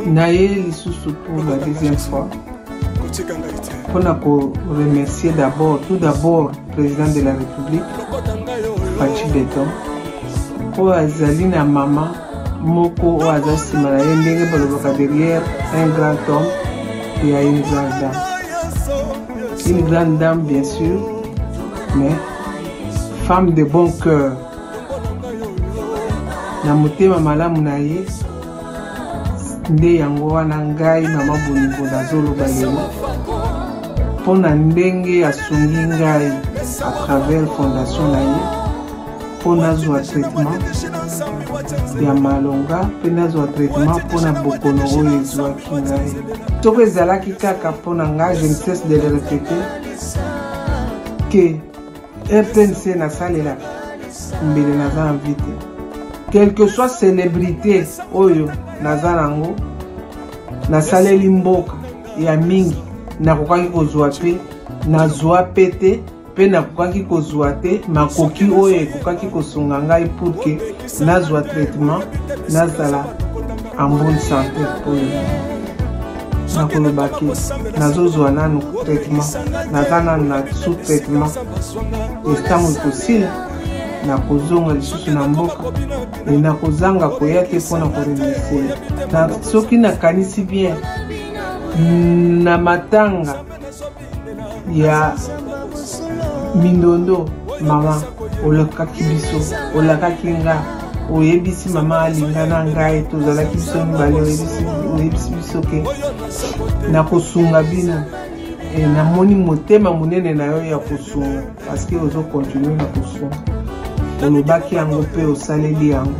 naye lisusu pour la deuxième fois mpona koremercier d'abord tout d'abord président de la république faci beton oyo azali na mama moko oyo aza nsima na ye ndenge balobaka derrière un grand homme il y a une grande dame une grande dame bien sûr mais femme de bon cœur na motema malamu na ye nde yango wana ngai mama bonibo nazoloba lelo mpo na ndenge asungi ngai à travers fondation na ye mpo nazwa traitement ya malonga mpe nazwa traitement mpo na bokono oyo ezwaki ngai soko ezalaki kaka mpo na ngai je ne cesse de le répéter que rtnc nasalela mbele naza na vie te quelque soit célébrité oyo naza nango nasaleli mboka ya mingi nakokaki kozwa mpe nazwa mpe te mpe nakokaki kozwa te makoki oyo ekokaki kosunga ngai purke nazwa traitement nazala en bonne santé mpo nakoloba ke nazozwa nanu traitement naza nanu na sous traitement etango ekosila nakozonga lisusu na mboka e nakozanga koya te mpo na koremercie soki nakanisi bien na matanga ya mindondo mama olakaki biso olakaki nga oyebisi mama alinga na ngai tozalaki biso mibale oyebisi biso ke nakosunga bino e, namoni motema monene na yo ya kosunga parceke ozokontinue na kosunga olobaki yango mpe osaleli yango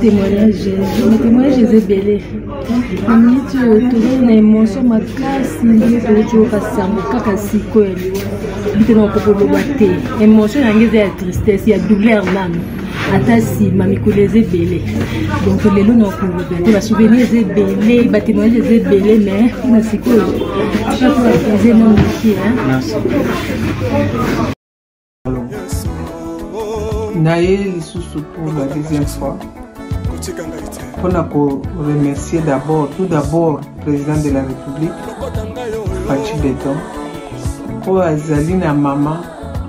témoignage na témoignage eza ebele na miniti oyo tozali na émotion makasi ndenge toyoti okasi yango kaka sikoyo ya liwa bite na okoki koloba te émotion yango eza ya tristesse ya douleur nano ata nsima mikolo eza ebele donc lelo na okoloba te basouvenir eza ebele batémoignage eza ebele mais mpona sikoyo eza na moke naye lisusu pour la deuxième fois mpona koremercier d'abord tout d'abord président de la république faci beton oyo azali na mama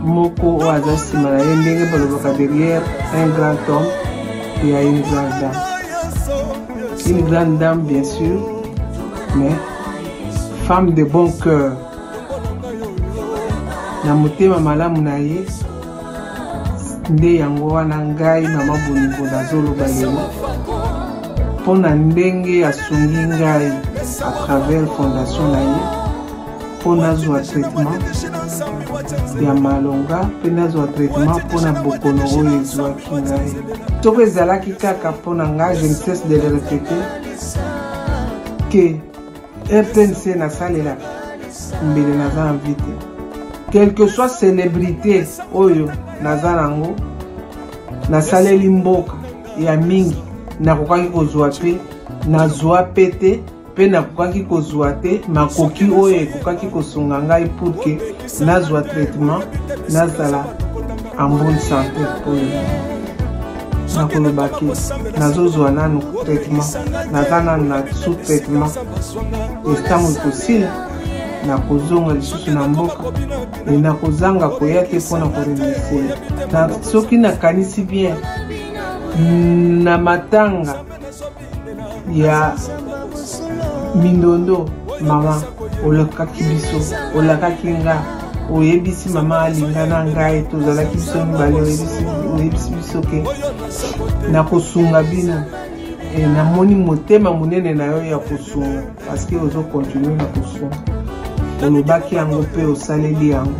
moko oyo aza nsima na ye ndenge balobaka derrière un grand homme ya une grande dame une grande dame bien sûr mais femme de bon cœur na motema malamu na ye nde yango wana ngai mama bolingo nazoloba lelo mpo na ndenge asungi ngai à travers fondation na ye mpo nazwa traitement ya malonga mpe nazwa traitement mpo na bokono oyo ezwaki ngai soko ezalaki kaka mpo na ngai je ne cesse de le répéter que rtnc nasalela mbele naza na vie te quelque soit célébrité oyo naza nango nasaleli mboka ya mingi nakokaki kozwa mpe nazwa mpe te mpe nakokaki kozwa te makoki oyo ekokaki kosunga ngai purke nazwa traitement nazala en bonne santé oyo nakoloba ke nazozwa nanu traitement naza nanu na sous traitement etango ekosila nakozonga lisusu na mboka e nakozanga koya te mpo na koremercie soki nakanisi bien na matanga ya mindondo mama olakaki biso olakaki nga oyebisi mama alinga na ngai tozalaki biso mibale oyebisi biso ke nakosunga bino e, namoni motema monene na yo ya kosunga parceke ozokontinue na kosunga olobaki yango mpe osaleli yango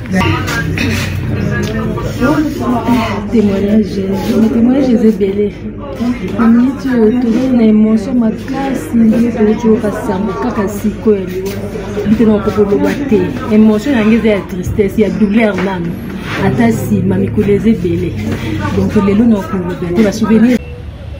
témoignage na témoignage eza ebele na miniti oyo tozali na émotion makasi ndenge toyoti oyo kasi yango kaka sikoyo ya liwa bite na okoki koloba te émotion yango eza ya tristesse ya douleur nano ata nsima mikolo eza ebele donc lelo na okolobela te basouvenir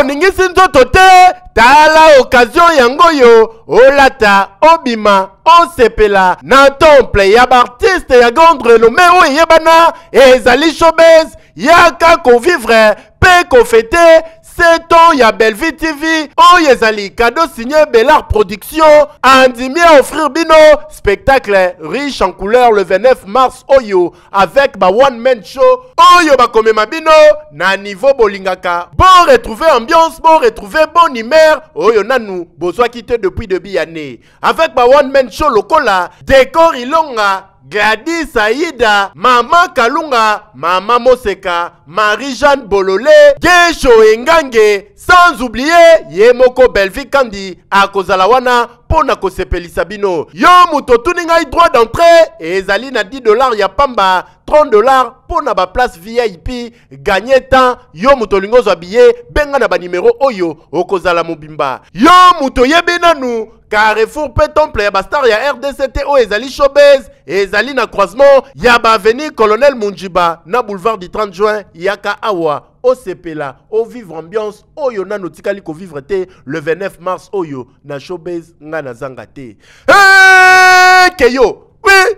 oningisi nzoto te tala okazio yango oyo olata obima osepela na temple ya baartiste ya grande renome oyo eyebana ezali showbase yaka kovivre mpe kofete Seton ya Bellevue TV oyo ezali cadeau signé Bellar Production andimi à offrir bino spectacle riche en couleur le 29 mars oyo avec ba one man show oyo bakomema bino na niveau bolingaka bo retrouver ambiance bo retrouver bonne humeur oyo nanu bozwaki te depuis debut ya année avec ba one man show lokola Decor Ilonga, Gladys Aida, Mama Kalunga, Mama Moseka, Marie-Jeanne Bolole, Gesho Engange, sans oublier ye moko Bellevue Kandi akozala wana mpo na kosepelisa bino. Yo moto otuni ngai droit d'entrée ezali na 10 dollars ya pamba, 30 dollars mpo na ba place VIP ganye temps yo moto olingi ozwa biye benga na banimero oyo okozala mobimba yo moto oyebi nanu carrefour mpe temple ya bastar ya rdc te oyo ezali showbase ezali na croisement ya baavenue colonel munjiba na boulevard du 30 juin yaka awa osepela ovivre ambiance oyo nano otikali kovivre te le 29 mars oyo na showbase ngai nazanga te hey, keyo oui.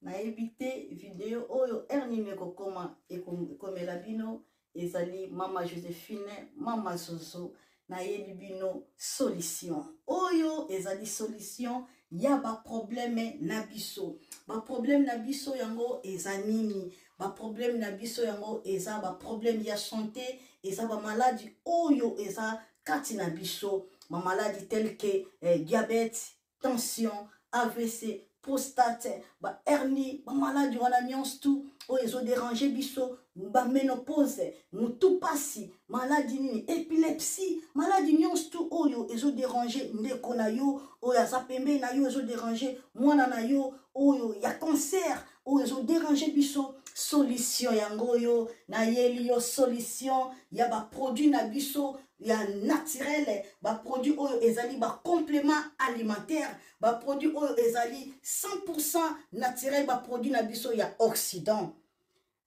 nayebi te video oyo heure nini ekokoma ekomela bino ezali mama josephine mama zozo nayebi bino solution oyo ezali solution ya baprobleme na biso baprobleme na biso yango eza nini baprobleme na biso yango eza baprobleme ya sante eza bamaladi oyo eza kati na biso bamaladi telke eh, diabete tension avc prostate ba hernie ba maladi wana nyonso tu oyo ezoderange biso baménopause motu mpasi maladi nini epilepsie maladi nyonso tu oyo ezoderange ndeko na yo oyo aza pembeni na yo ezoderange mwana na yo oyo ya cancer oyo ezoderange biso solution yango oyo nayeli yo solution ya baproduit na biso ya naturel baproduit oyo ezali bacomplement alimentaire baproduit oyo ezali 100 naturel baproduit na biso ya occident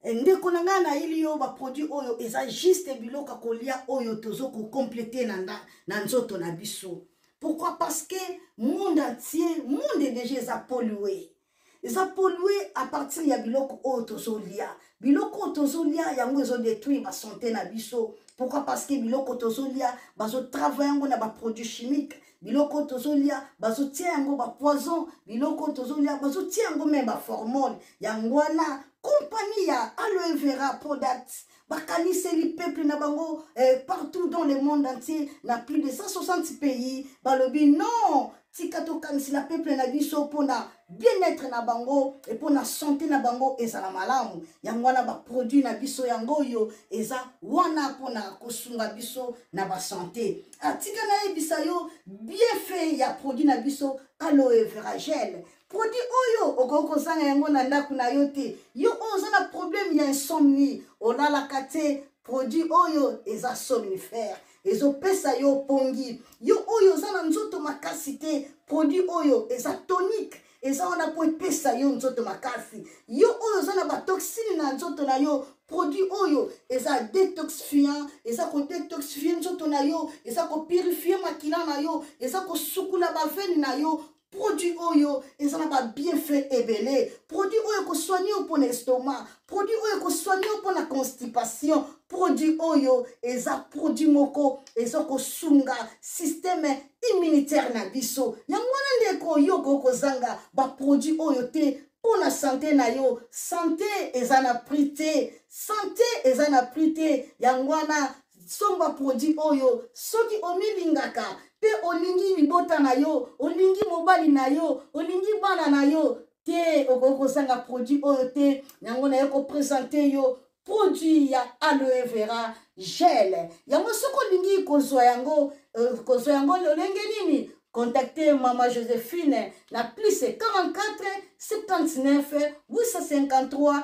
Eh, ndeko na ngai nayeli yo baproduit oyo eza juste biloko ya kolia oyo tozo kocomplete na, na, na nzoto na biso pourquoi parce que monde entier monde deja eza polue eza polue à partir ya biloko oyo tozolia biloko oyo tozolia yango ezodétruire basante na biso pourquoi parce que biloko tozolia bazotravaille yango na baproduit chimique biloko tozolia bazotia yango bapoison biloko tozolia bazotia yango meme baformone yango wana kompani ya aloe vera product bakaniseli peuple na bango eh, partout dans le monde entier na plus de 160 pays balobi non tika tokanisela peuple na biso mpona bien-être na bango e mpona sante na bango ezala malamu yango wana baproduit na biso yango oyo eza wana mpona kosunga biso na basante atika nayebisa yo bienfait ya produit na biso aloe veragele produit oyo okoki kozanga yango na ndako na yo te yo oyo oza na problème ya insomnie olalaka te produit oyo eza somnifère ezopesa yo pongi yo oyo oza na nzoto makasi te produit oyo eza tonique eza wana mpo epesa yo nzoto makasi yo oyo oza na batoxine na nzoto na yo produit oyo eza detoxifiant eza kodetoxifie nzoto na yo eza kopurifie makila na yo eza kosukula bavene na yo produit oyo eza na babienfait ebele produit oyo ekosoigne yo mpo na estomac produit oyo ekosoigne yo mpo na constipation produit oyo eza produit moko eza kosunga systeme immunitaire na biso yango wana ndeko yo okoki kozanga baproduit oyo te mpo na sante na yo sante eza na prix te sante eza na prix te yango wana somba produit oyo soki omilingaka mpe olingi libota na yo olingi mobali na yo olingi bana na yo te okoki kozanga produit oyo te yango naye kopresente yo produit ya aloe vera gel yango soki olingi kozwa yango euh, kozwa yango lolenge nini contacte mama josephine na plus 44 79 853